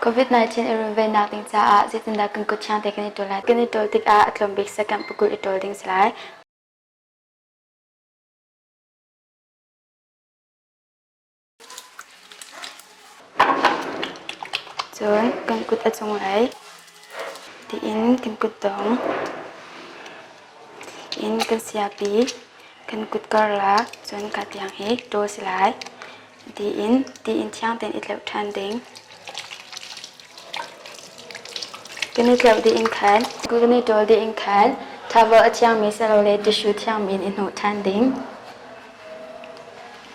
COVID-19 i runvennak ding caah zeitindah kan kut thiang te kan i ṭul lai? Kan i ṭul tikah a tlawm bik sekemp pakul i ṭul ding si lai. Cun kan kut a cung ai tiin kan kutdong in kan siapi kan kut karlak cun kaa tiang hi ṭaw si lai tiin tiin thiang tein i tleuh ṭhan ding. Kan i tleuh dih in khan kan i ṭawl dih in khan thavel a thiangmi silole tissue thiangmi in i hnawh ṭhan ding.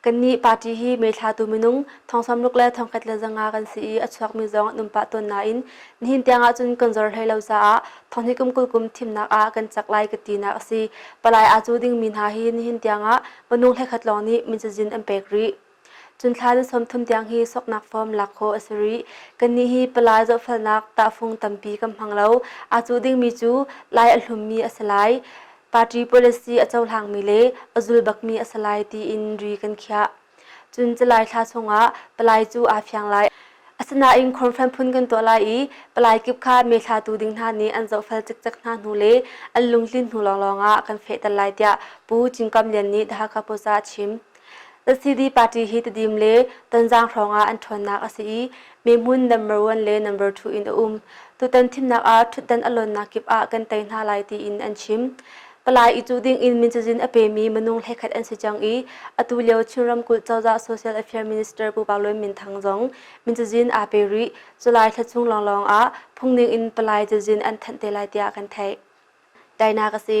Kannih party hi meithlatu minung thongsawmruk le thongkhat le zanga kan si i a chuakmi zong an um pah tawn nain nihin tiang ahcun kan zor hlei lo caah thonghi kum kul kum thimnak ah kan cak lai ka tinak a si. Palai aa cu dingmi hna hi nihin tiangah minung hlekhat lawng nih min cazin an pek rih. Cun thla na sawmthum tiang hi soknak form lak khawh a si rih. Kannih hi palai zohfalnak tahfung tampi kan hmang lo. Aa cu dingmi cu lai a hlummi a si lai. Party policy a cohlangmi le a zulbakmi a si lai tiin ri kan khiah. Cun July thla chungah palai cu aa fiang lai. Asinain conference phun kan tuah lai i palai kip kha meithlatu ding hna nih an zohfel cikcek hna hnu le an lungtlin hnu lawnglawng ah kan fehter lai tiah Pu Cingkam Lian nih The Hakha Post ah a chim. LCD party hi Tedim le Tonzang hrawng ah an ṭhawnnak a si i mehmun number one le number two in a um. Tutan thimnak ah ṭhutdan a lawnnak kip ah kan tei hna lai tiin an chim. Palai i cuh ding in mincazin a pemi minung hlekhat an si cang i atu lio Chin ramkulh cozah social affairs minister Pu Pak Lun Min Thang zong mincazin aa pe rih. July thla chung lawnglawng ah phungning in palai cazin an thanh te lai tiah kan theih. Tainak a si.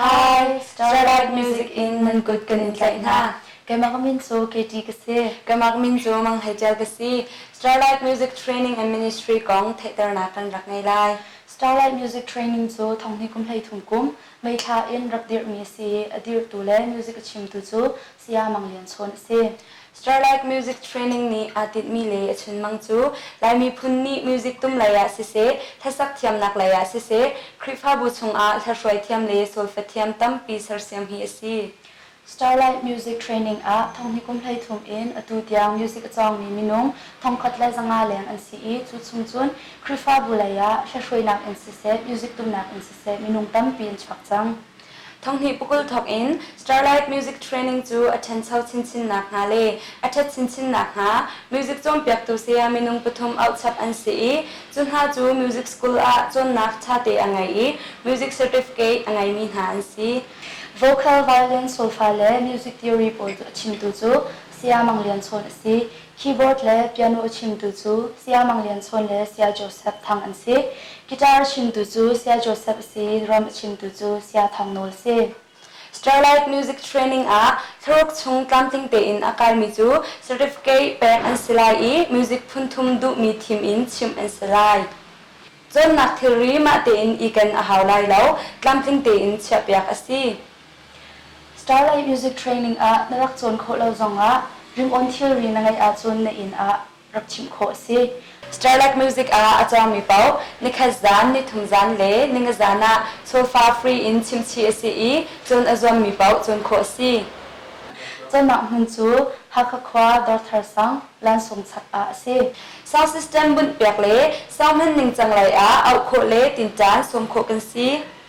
Hi, Starlight Music in nan kut kan in tlaih hna. Keimah ka min cu Katie ka si. Keimah ka min cu Mang Hei Ṭial ka si. Starlight Music Training and Ministry kong theihternak kan rak ngei lai. Starlight Music Training cu thonghni kum hleithum kum meithla in rak dirhmi a si i a dirhtu le music a chimtu cu Saya Mang Lian Chawn a si. Starlight Music Training nih aa tinhmi le a chunmang cu Lai miphun nih music tum lei ah siseh, hlasak thiamnak lei ah siseh, Khrihfabu chungah hlaihruai thiam le solfa thiam tampi sersiam hi a si. Starlight Music Training ah Thonghni kum hleithum in atu tiang music a cawngmi minung thongkhat le zanga leng an si i cu chung cun Khrihfabu lei ah hlaihruainak in siseh, music tumnak in siseh minung tampi an chuak cang. Thanghnih pukul thawk in Starlight Music Training cu a ṭhencho chinchinnak hna le a ṭhet chinchinnak hnga music cawnpiaktu saya minung pathum auhchap an si i cu hna cu music school ah cawnnak ṭhate a ngei i music certificate a ngeimi hna an si. Vocal, violin, solfa le music theory pawl cu a chimtu cu Saya Mang Lian Chawn a si. Keyboard le piano a chimtu cu Saya Mang Lian Chawn le Saya Joseph Thang an si. Guitar a chimtu cu Saya Joseph a si, drum a chimtu cu Saya Thang Nawl si. Starlight Music Training ah thlaruk chung tlamtling tein a kalmi cu certificate pek an si lai i music phunthum duhmi thim in chimh an si lai. Cawnnak thilri mah tein iken a hau lai lo, tlamtling tein chiahpiak a si. Starlight Music Training ah na rak cawn khawh lo zongah ringawn thilri na ngeih ahcun na inn ah rak chimh khawh a si. Starlight Music ah a cawngmi paoh nikhat zan, nithum zan le ningazan ah sofa free in chimchih a si i cun a zuammi paoh cawn khawh a si. Cawnnak hmun cu Hakha khua Dawrthar sang lansung chak ah a si. Sound system bunh piak le sound hman ningcang lei ah auh khawh le tinṭan sawm khawh kan si.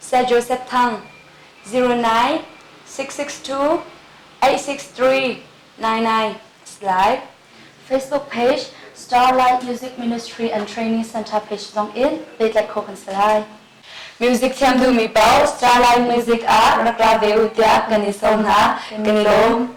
Sir Joseph Thang, zero nine six six two eight six three nine nine is live. Facebook page Starlight Music Ministry and Training Center page zong in pehtlaih khawh kan si lai. Music thiam duhmi paoh Starlight Music ah rak ra ve u tiah kan i sawm hna, kan i lawm.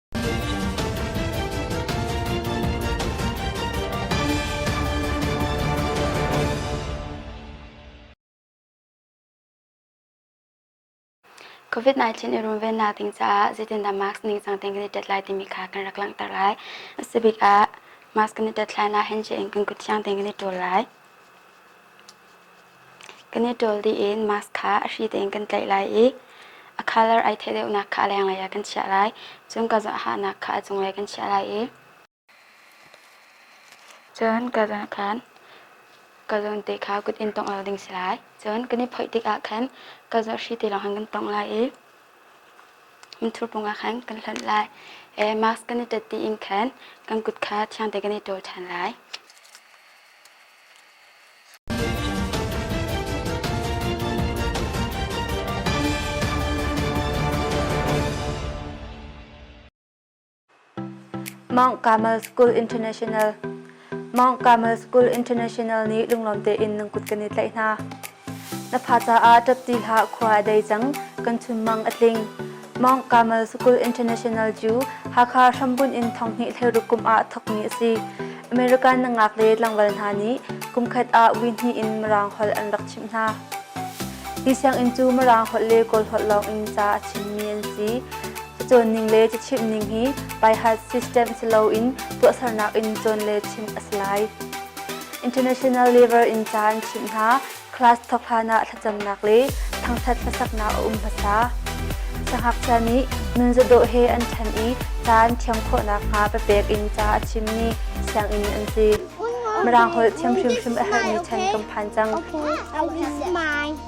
COVID-19 i runvennak ding caah zeitindah mask ningcang tein kan i tet lai timi kha kan rak langhter lai. Asabik ah mask kan i tet lai lah, handshake in kan kut thiang tein kan i ṭul lai. Kan i ṭawl dih in mask kha a hri tein kan tlaih lai i a colour ai theh deuhnak kha a lenglei ah kan chiah lai. Cun ka zoh ahahnak kha a cunglei kan chiah lai i cun ka zawn khan ka zawn te kha kut in tongh lo ding si lai. Cun kan i phoih tikah khan ka zawh hri te lawng khan kan tongh lai i minthur pung ah khan kan hlonh lai. E, mask kan i tat dih in khan kan kut kha thiang te kan i ṭawl ṭhan lai. Mount Carmel School International Mount Carmel School International nih lunglawm tein nan kut kan i tlaih hna. Na fa caah ṭapṭi hlah, khua a dei cang, kan chunmang a tling. Mount Carmel School International cu Hakha hrambunh in thawnghnih thleruk kum ah thawkmi a si. American na ngak le tlangval hna nih kumkhat ah wi hnih in Mirang holh an rak chimh hna. Hi sianginn cu Mirang holh le Kawl holh lawng in ca a chimmi an si. Cacawn ning le cachimh ning hi by heart system si loin tuahsernak in cawn le chimh a si lai. International Labour in ca an chimh hna, class thawk hlanah thlacamnak le thangṭhat hlasaknak a um hmasa. Sangakchia nih nunzadawh he an ṭhen i ca an thiam khawh nakhnga papek in ca a chimmi sianginn an si. Mirang holh thiam hrimhrim a herhmi ṭhen kan phan cang. Okay,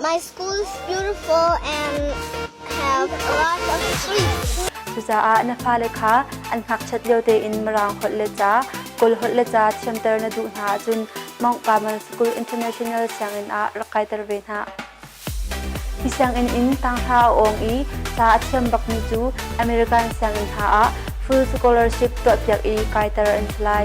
My school is beautiful and have a lot of trees. Cucaah na fale kha an ngakchiat lio tein Mirang holh le ca, Kawl holh le ca thiamter na duh hna ahcun Mount Carmel School International sianginn ah rak kaiter ve hna. Hi sianginn in tanghra a awng i ca a thiam bakmi cu American sianginn hna ah full scholarship tuahpiak i kaiter an si lai.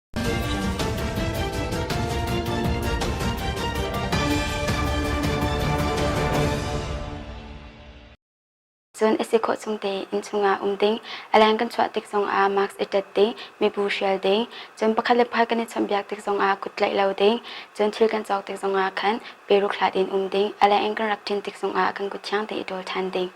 Cun a si khawh chung tein inn chungah um ding, a leng kan chuah tik zongah mask i tat ding, mibu hrial ding, cun pakhat le pakhat kan i chawnhbiak tik zongah kut tlaih lo ding, cun thil kan cawk tik zongah khan peruk hlat in um ding, a leng in kan rak ṭin tik zongah kan kut thiang te i ṭawl ṭhan ding.